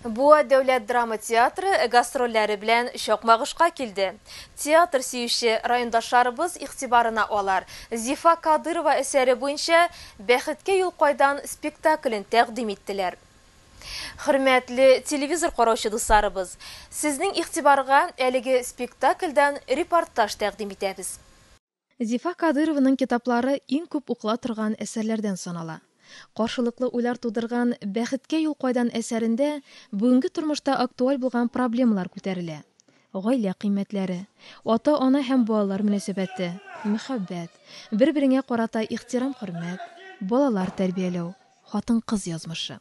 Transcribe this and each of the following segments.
Буа дәүләт драма театры гастрольләре белән Чакмагышка килде. Театр сөюче райондашларыбыз игътибарына алар Зифа Кадырова әсәре буенча Бәхеткә юл кайдан спектаклен тәкъдим иттеләр. Хөрмәтле телевизор караучы дусларыбыз, сезнең игътибарга әлеге спектакльдән репортаж тәкъдим итәбез. Зифа Кадыйрованың китаплары иң күп укыла торган әсәрләрдән санала. Каршылыклы уйлар тудырган Бәхеткә юл кайдан әсәрендә бүгенге тормышта актуаль булган проблемалар күтәрелә. Гаилә кыйммәтләре, ата-ана һәм балалар мөнәсәбәте, мәхәббәт, бер-береңә карата ихтирам-хөрмәт, балалар тәрбияләү, хатын-кыз язмышы.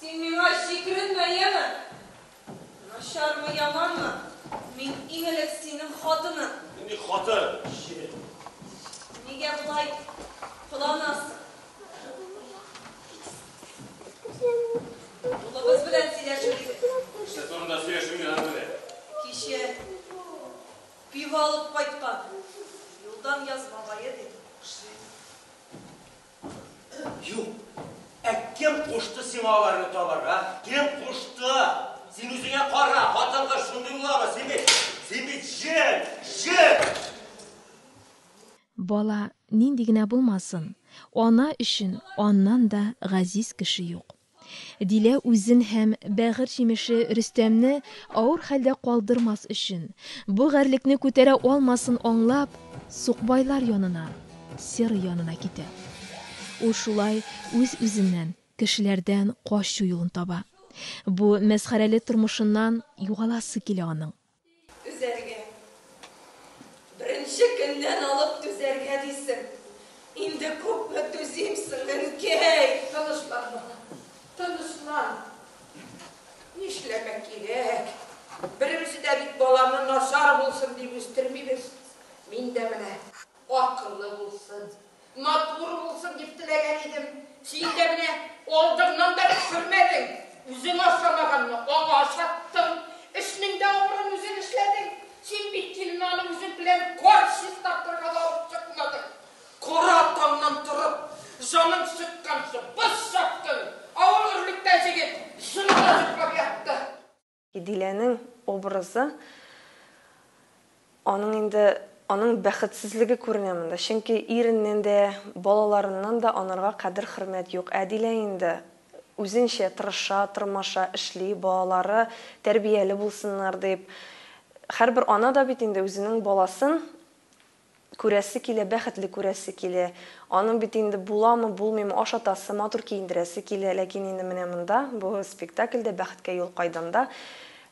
Син миңа җикеренмә, яме! Начармы, яманмы, мин иң элек синең хатының. Нинди хатын, чебен? Нигә болай кыланасың? Улыбыз белән сөйләшер идек. Кеше турында сөйләшү миңа генә. Кичә пива алып кайткан. Юлдан яз бабае, ди. Юк. Ә кем кушты сиңа аларны табарга? Кем кушты? Син үзеңә кара, хатын-кыз шундый буламы? Син бит, син бит җен, җен! Бала нинди генә булмасын, ана өчен аннан да газиз кеше юк. Дилә үзен һәм бәгырь җимеше Рөстәмне авыр хәлдә калдырмас өчен, бу гарьлекне күтәрә алмасын аңлап, сукбайлар янына, серый янына китә. Ул шулай үз-үзеннән, кешеләрдән качу юлын таба. Бу мәсхәрәле тормышыннан югаласы килә аның. Түзәргә. Беренче көннән алып түзәргә дисең. Инде күпме түзимсең, әнкәй? Тынычлан, балам, тынычлан. Нишләргә кирәк? Беребез дә бит баланы начар булсын дип үстермибез. Мин дә менә. Акыллы булсын, матур булсын дип теләгән идем, син дә менә алдыңнан да төшермәдең, үзең ашамаганны аңа ашаттың, эшнең дә авырын үзең эшләдең, син бит Дилнаны үзең белән кар чистартырга да алып чыкмадың, кара таңнан торып, җаның чыкканчы боз чаптың, ә ул өрлектә җегет җылыда йоклап ятты. Диләнең образы, аның инде, аның бәхетсезлеге күренә монда. Чөнки иреннән дә, балаларыннан да анарга кадер-хөрмәт юк. Ә Дилә инде үзенчә тырыша, тырмаша, эшли, балалары тәрбияле булсыннар дип. Һәрбер ана да бит инде үзенең баласын, Күрәсе килә, бәхетле күрәсе килә. Аның бит инде буламы, булмыймы, ашатасы, матур киендерәсе килә. Ләкин инде менә монда, бу спектакльдә Бәхеткә юл кайдан да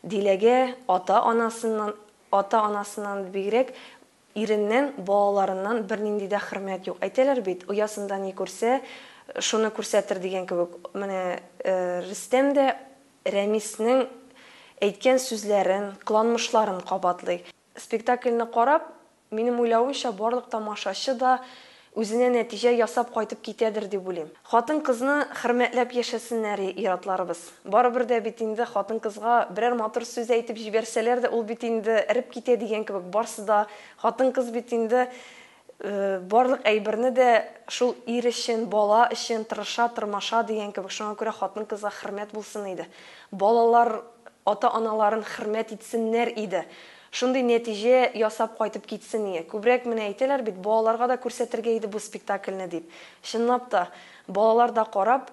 Диләгә ата-анасыннан, ата-анасыннан да бигрәк, иреннән, балаларыннан бернинди дә хөрмәт юк. Әйтәләр бит, оясында ни күрсә, шуны күрсәтер дигән кебек. Менә Рөстәм дә Рәмиснең әйткән сүзләрен, кыланмышларын кабатлый. Спектакльне карап, минем уйлавымча, барлык тамашачы да үзенә нәтиҗә ясап кайтып китәдер дип уйлыйм. Хатын-кызны хөрмәтләп яшәсеннәр ир-атларыбыз. Барыбер дә бит инде хатын-кызга берәр матур сүз әйтеп җибәрсәләр дә, ул бит инде эреп китә дигән кебек, барсы да хатын-кыз бит инде. Барлык әйберне дә шул ир өчен, бала өчен тырыша, тырмаша дигән кебек, шуңа күрә хатын-кызга хөрмәт булсын иде. Балалар ата-аналарын хөрмәт итсеннәр иде. Шундый нәтиҗә ясап кайтып китсен иде. Күбрәк менә әйтәләр бит, балаларга да күрсәтергә иде бу спектакльне дип. Чынлап та, балалар да карап,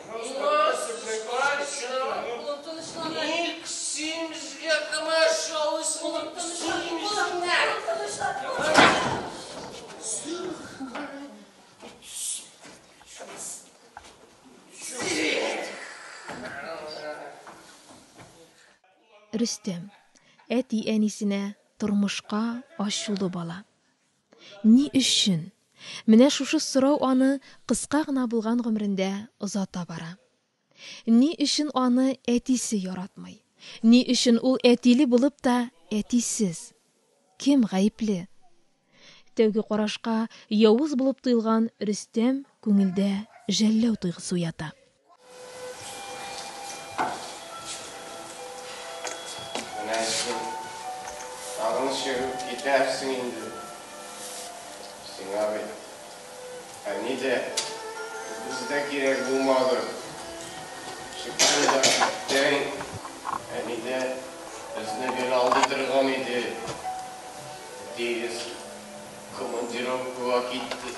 Рөстәм. Әти-әнисенә, тормышка ачулы бала. Ни өчен? Менә шушы сорау аны кыска гына булган гомерендә озата бара. Ни өчен аны әтисе яратмый? Ни өчен ул әтиле булып та әтисез? Кем гаепле? Тәүге карашка явыз булып тоелган Рөстәм күңелдә жәлләү тойгысы уята. Менә син тагын чыгып китәрсең инде. Сиңа бит әни дә, үгез дә кирәк булмады. Чыксын да китсен. Әни дә безне гел алдый торган иде. Әтиегез командировкага китте.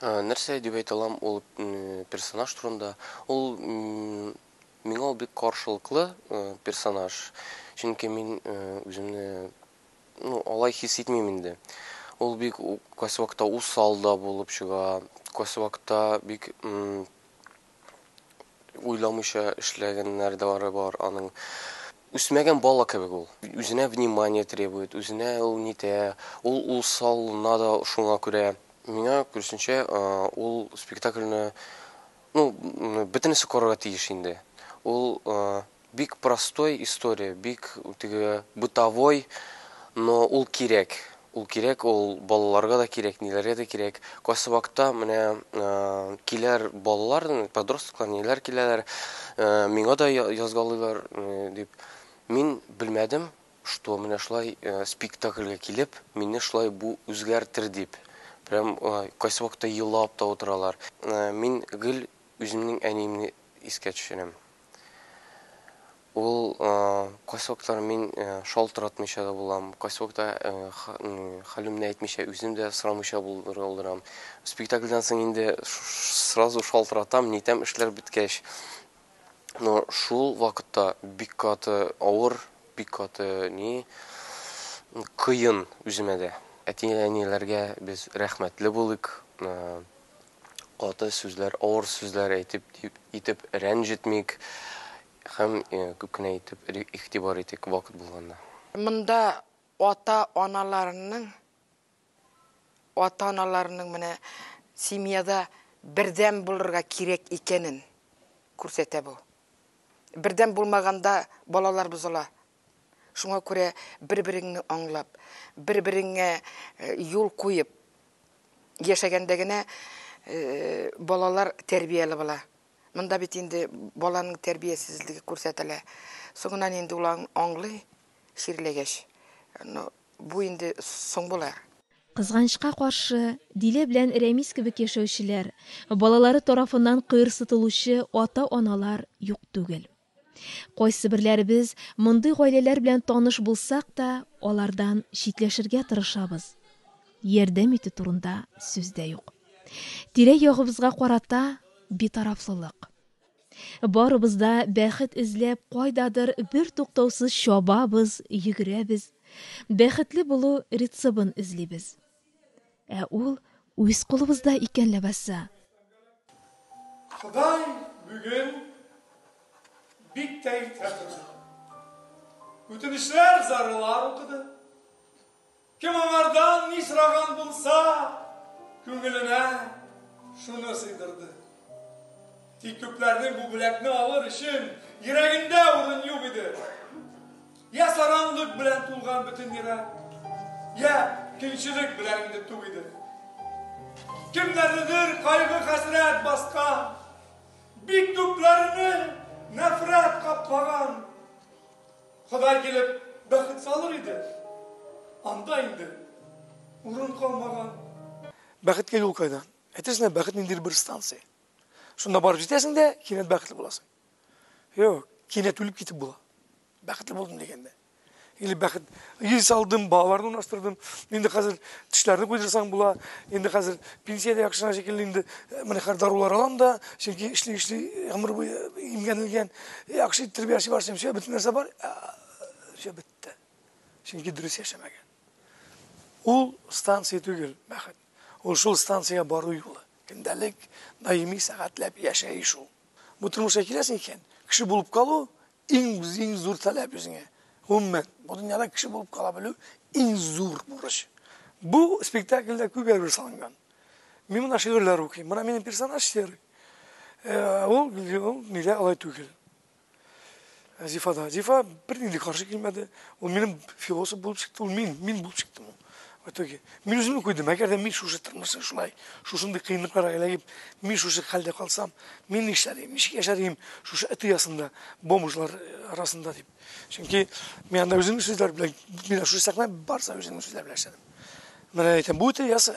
Нәрсә дип әйтә алам ул персонаж турында? Ул миңа ул бик каршылыклы персонаж. Чөнки мин үземне ну, алай хис итмим инде. Ул бик кайсы вакытта усал да булып чыга, кайсы вакытта бик Уйламыйча эшләгәннәрдары бар аның. Үсмәгән бала кебек ул. Үзенә внимание требует, үзенә ул нитә, ул ул салына да шуңа күрә. Миңа күрүсенчә, ул спектакльне, ну, бөтенесе карарга тиеш инде. Ул Бик простой история, бик теге бытовой, но ул кирәк, ул кирәк, ул балаларга да кирәк, ниләргә дә кирәк. Касабакта менә киләр балалар, подростклар, ниләр киләләр, миңа да язгалыйлар, дип. Мин белмәдем, что менә шулай спектакльгә килеп, мине шулай бу үзгәртер дип. Прям кайсы вакытта елап та утыралар. Мин гел үземнең әниемне искә төшерәм. Ул кайсы вакытлар мин шалтыратмыйча да булам, кайсы вакытта хәлемне әйтмичә, үзем дә сорамыйча булырга булдырам. Спектакльдән соң инде сразу шалтыратам, нитәм эшләр беткәч. Но шул вакытта бик каты авыр, бик каты ни кыен үземә дә. Әти-әниләргә без рәхмәтле булыйк. каты сүзләр, авыр сүзләр әйтеп дип итеп рәнҗетмик һәм күп кенә итеп игътибар итик вакыт булганда. Монда ата-аналарның ата-аналарның менә семьяда бердәм булырга кирәк икәнен күрсәтә бу. Бердәм булмаганда балалар бозыла. Шуңа күрә бер-береңне аңлап, бер-береңә юл куеп яшәгәндә генә балалар тәрбияле була. Монда бит инде баланың тәрбиясезлеге күрсәтелә. Соңыннан инде ул аңлый, чирләгәч. Ну, бу инде соң булыр. Кызганычка каршы, Дилә белән Рәмис кебек яшәүчеләр, балалары тарафыннан кыерсытылучы ата-аналар юк түгел. Кайсыберләребез мондый гаиләләр белән таныш булсак та, алардан читләшергә тырышабыз. Ярдәм итү турында сүз дә юк. Тирә-ягыбызга карата битарафлылык. Барыбыз да бәхет эзләп кайдадыр бертуктаусыз чабабыз, йөгерәбез. Бәхетле булу рецебын эзлибез. Ә ул үз кулыбызда икән ләбаса! Ходай бүген бик тә иртә торды. Үтенечләр, зарылар укыды. Кем аңардан ни сораган булса, күңеленә шуны сыйдырды. Тик күпләрнең бу бүләкне алыр өчен йөрәгендә урын юк иде. Йә саранлык белән тулган бөтен йөрәк, йә көнчелек белән инде тук иде. Кемнәрнедер кайгы-хәсрәт баскан, бик күпләрне нәфрәт каплаган. Ходай килеп бәхет салыр иде, анда инде урын калмаган. Бәхеткә юл кайдан? Әйтерсең лә бәхет ниндидер бер станция. Шунда барып җитәсең дә, кинәт бәхетле буласың. Юк, кинәт үлеп китеп була. Бәхетле булдым дигәндә. Или бәхет. Ил салдым, балаларны урнаштырдым. Инде хәзер тешләрне куйдырсаң була. Инде хәзер пенсия дә яхшына шикелле инде. Менә хәзер дарулар алам да, чөнки эшли эшли гомер буе имгәнелгән. Яхшы тәрбияче бар, чөнки бөтен нәрсә бар. Все бетте. Чөнки дөрес яшәмәгән. Ул станция түгел, бәхет. Ул шул станциягә бару юлы. Көндәлек, даими сәгатьләп яшәеш ул. Бу тормышка киләсең икән, кеше булып калу иң иң зур таләп үзеңә. Гомумән, бу дөньяда кеше булып кала белү иң зур бурыч. Бу спектакльдә күп әйбер салынган. Мин монда шигырьләр укыйм. Менә минем персонаж серый. Ул, ул нигә алай түгел? Зифа да. Зифа бер нинди каршы килмәде. Ул минем философ булып чыкты, ул мин, мин булып чыктым. В итоге мин үземне куйдым, әгәр дә мин шушы тормышны шулай, шушындый кыенлыкларга эләгеп, мин шушы хәлдә калсам, мин нишләрим, ничек яшәрим шушы эт оясында, бомжлар арасында дип. Чөнки мин анда үземнең сүзләр белән, мин шушы сәхнә барса үземнең сүзләр белән эшләдем. Менә әйтәм, бу эт оясы.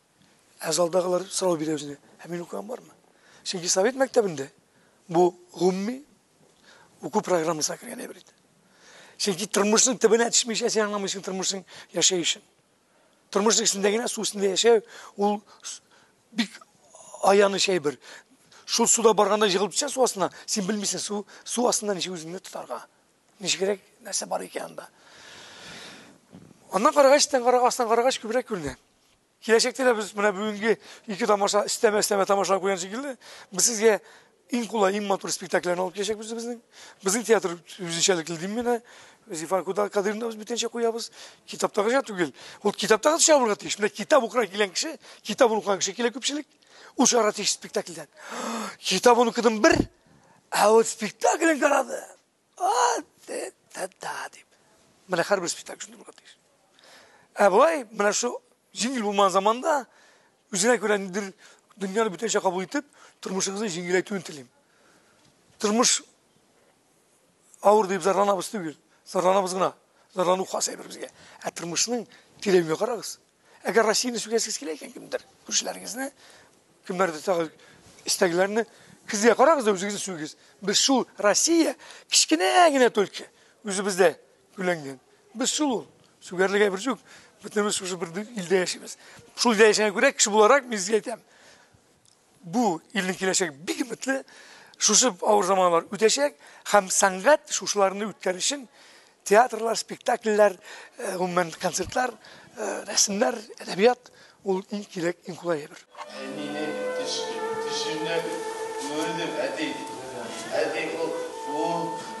Ә залдагылар сорау бирә үзенә, ә мин укыган бармы? Чөнки совет мәктәбендә бу гомми уку программасына кергән әйбер иде. Чөнки тормышның төбенә төшмичә син аңламыйсың тормышның яшәешен. Тормышның эчендә генә су өстендә яшәү ул бик аяныч әйбер. Шул суда барганда җыгылып төшә су астына, син белмисең су су астында ничек үзеңне тотарга. Ничегрәк нәрсә бар икән анда. Аннан карагач, тән карагач, астан карагач күбрәк күренә. Киләчәктә дә без менә бүгенге ике тамаша өстәмә өстәмә тамашалар куйган шикелле, без сезгә иң кулай, иң матур спектакльләрне алып киләчәкбез безнең. Безнең театр үзенчәлекле дим менә. Зифар Куда Кадыйрны без бүтәнчә куябыз. Китаптагыча түгел. Ул китаптагы төшә булырга тиеш. Менә китап укырга килгән кеше, китап укыган кеше килә күпчелек. Ул чыгарга тиеш спектакльдән. Китабын укыдым бер, ә вот спектаклен карады. Менә һәрбер спектакль шундый була тиеш. Ә болай, менә шу җиңел булмаган заманда үзенә күрә ниндер дөньяны бүтәнчә кабул итеп, тормышыгызны җиңеләйтүен телим. Тормыш авыр дип зарланабыз түгел, зарланабыз гына. Зарлану хас әйбер безгә. Ә тормышның тирәюгә карагыз. Әгәр Россияне сүгәсез килә икән кемдер, күршеләрегезне, кемнәрдер тагы истәгеләрне, кизгә карагыз да үзегезне сүгегез. Без шул Россия кечкенә генә только үзебездә гүләнгән. Без шул ул. Сүгәрлегә бер юк. Бөтенебез шушы бер илдә яшибез. Шул илдә яшәгәнгә күрә кеше буларак мин сезгә әйтәм. Бу илнең киләчәге бик өметле. Шушы авыр заманнар үтәчәк һәм сәнгать шушыларны үткәр өчен театрлар, спектакльләр, э, гомумән концертлар, э, рәсемнәр, әдәбият ул иң кирәк, иң кулай әйбер. Әнине төшкә, төшемдә күрдем, әти, әти, ул, ул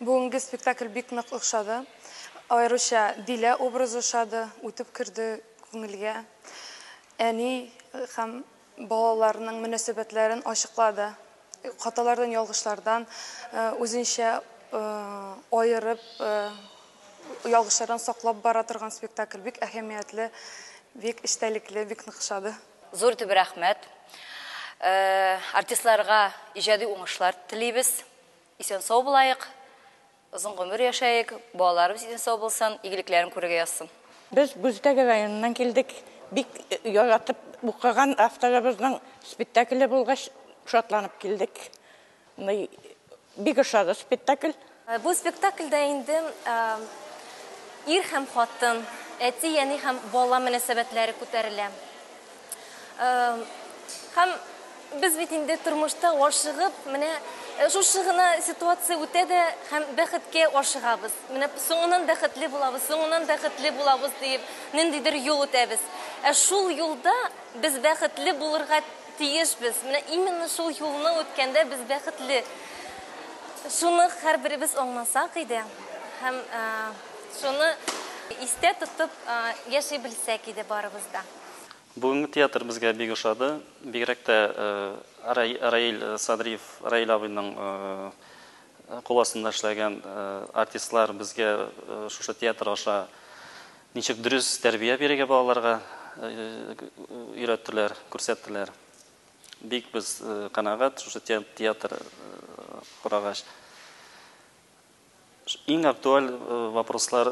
Бүгенге спектакль бик нык охшады. Аеруча Дилә образы ошады, үтеп керде күңелгә. Әни һәм балаларның мөнәсәбәтләрен ачыклады. Хаталардан, ялгышлардан үзенчә аерып, ялгышлардан саклап бара торган спектакль. Бик әһәмиятле, бик эчтәлекле, бик нык ошады. Зур итеп рәхмәт. Артистларга иҗади уңышлар телибез. Исән-сау булаек, озын гомер яшәек, балаларыбыз исән-сау булсын, игелекләрен күрергә язсын. Без Гүзтәге районыннан килдек. Бик яратып укыган авторыбызның спектакле булгач, шатланып килдек. Бик ошады спектакль. Бу спектакльдә инде ир һәм хатын, әти-әни һәм бала мөнәсәбәтләре күтәрелә. Һәм без бит инде тормышта ашыгып, менә э, шушы гына ситуация үтә дә һәм бәхеткә ашыгабыз. Менә соңынан бәхетле булабыз, соңынан бәхетле булабыз диеп, ниндидер юл үтәбез. Ә шул юлда без бәхетле булырга тиешбез. Менә именно шул юлны үткәндә без бәхетле. Шуны һәрберебез аңласак иде һәм э, шуны истә тотып э, яши белсәк иде барыбыз да. Бүгенге театр безгә бик ошады. Бигрәк тә Раил Садриев, Раил абыйның кул астында эшләгән артистлар безгә шушы театр аша ничек дөрес тәрбия бирергә балаларга өйрәттеләр, күрсәттеләр. Бик без канәгать шушы театр карагач. Иң актуаль вопрослар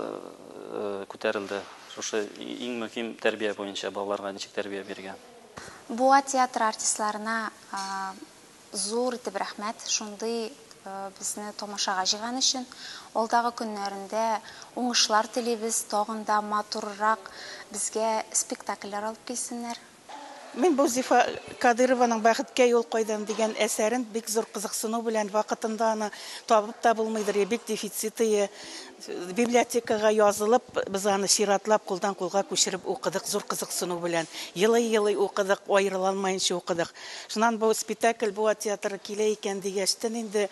күтәрелде. Шушы иң мөһим тәрбия буенча балаларга ничек тәрбия биргән. Буа театры артистларына зур итеп рәхмәт, шундый безне тамашага җыйган өчен. Алдагы көннәрендә уңышлар телибез, тагын да матуррак безгә спектакльләр алып килсеннәр. Мин бу Зифа Кадырованың Бәхеткә юл кайдан дигән әсәрен бик зур кызыксыну белән, вакытында аны табып та булмыйдыр, бик дефицитые, библиотекага язылып, без аны чиратлап кулдан кулга күчереп укыдык зур кызыксыну белән. Елый-елый укыдык, аерыла алмаенча укыдык. Шуннан бу спетакль Буа театры килә икән дигәчтен инде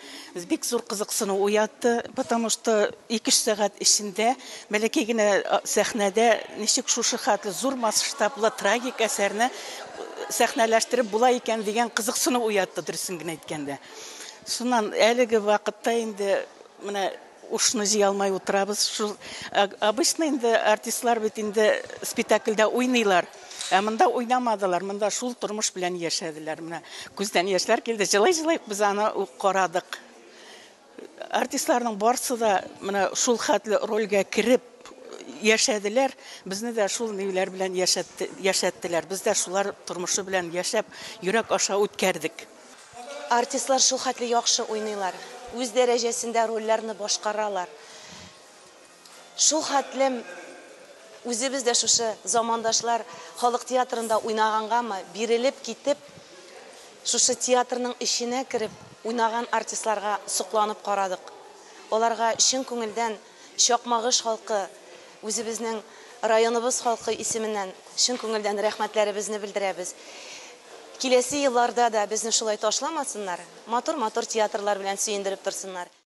бик зур кызыксыну уятты, потому что Ике-өч сәгать эчендә бәләкәй генә сәхнәдә ничек шушы хәтле зур масштаблы трагик әсәрне сәхнәләштереп була икән дигән кызыксыну уятты, дөресен генә әйткәндә. Шуннан әлеге вакытта инде менә ушны җыя алмай утырабыз. Шул обычно инде артистлар бит инде спектакльдә уйныйлар. Ә монда уйнамадылар, монда шул тормыш белән яшәделәр. Менә күздән яшьләр килде, җылый-җылый без аны ук карадык. Артистларның барсы да менә шул хәтле рольгә кереп яшәделәр, безне дә шул миюләр белән яшәтте, яшәттеләр. Без дә шулар тормышы белән яшәп, йөрәк аша үткәрдек. Артистлар шул хәтле яхшы уйныйлар, үз дәрәҗәсендә рольләрне башкаралар. Шул хәтлем үзебез дә шушы замандашлар халык театрында уйнагангамы, бирелеп китеп, шушы театрның эченә кереп уйнаган артистларга сокланып карадык. Аларга чын күңелдән Чакмагыш халкы, үзебезнең районыбыз халкы исеменнән чын күңелдән рәхмәтләребезне белдерәбез. Киләсе елларда да безне шулай ташламасыннар, матур-матур театрлар белән сөендереп торсыннар.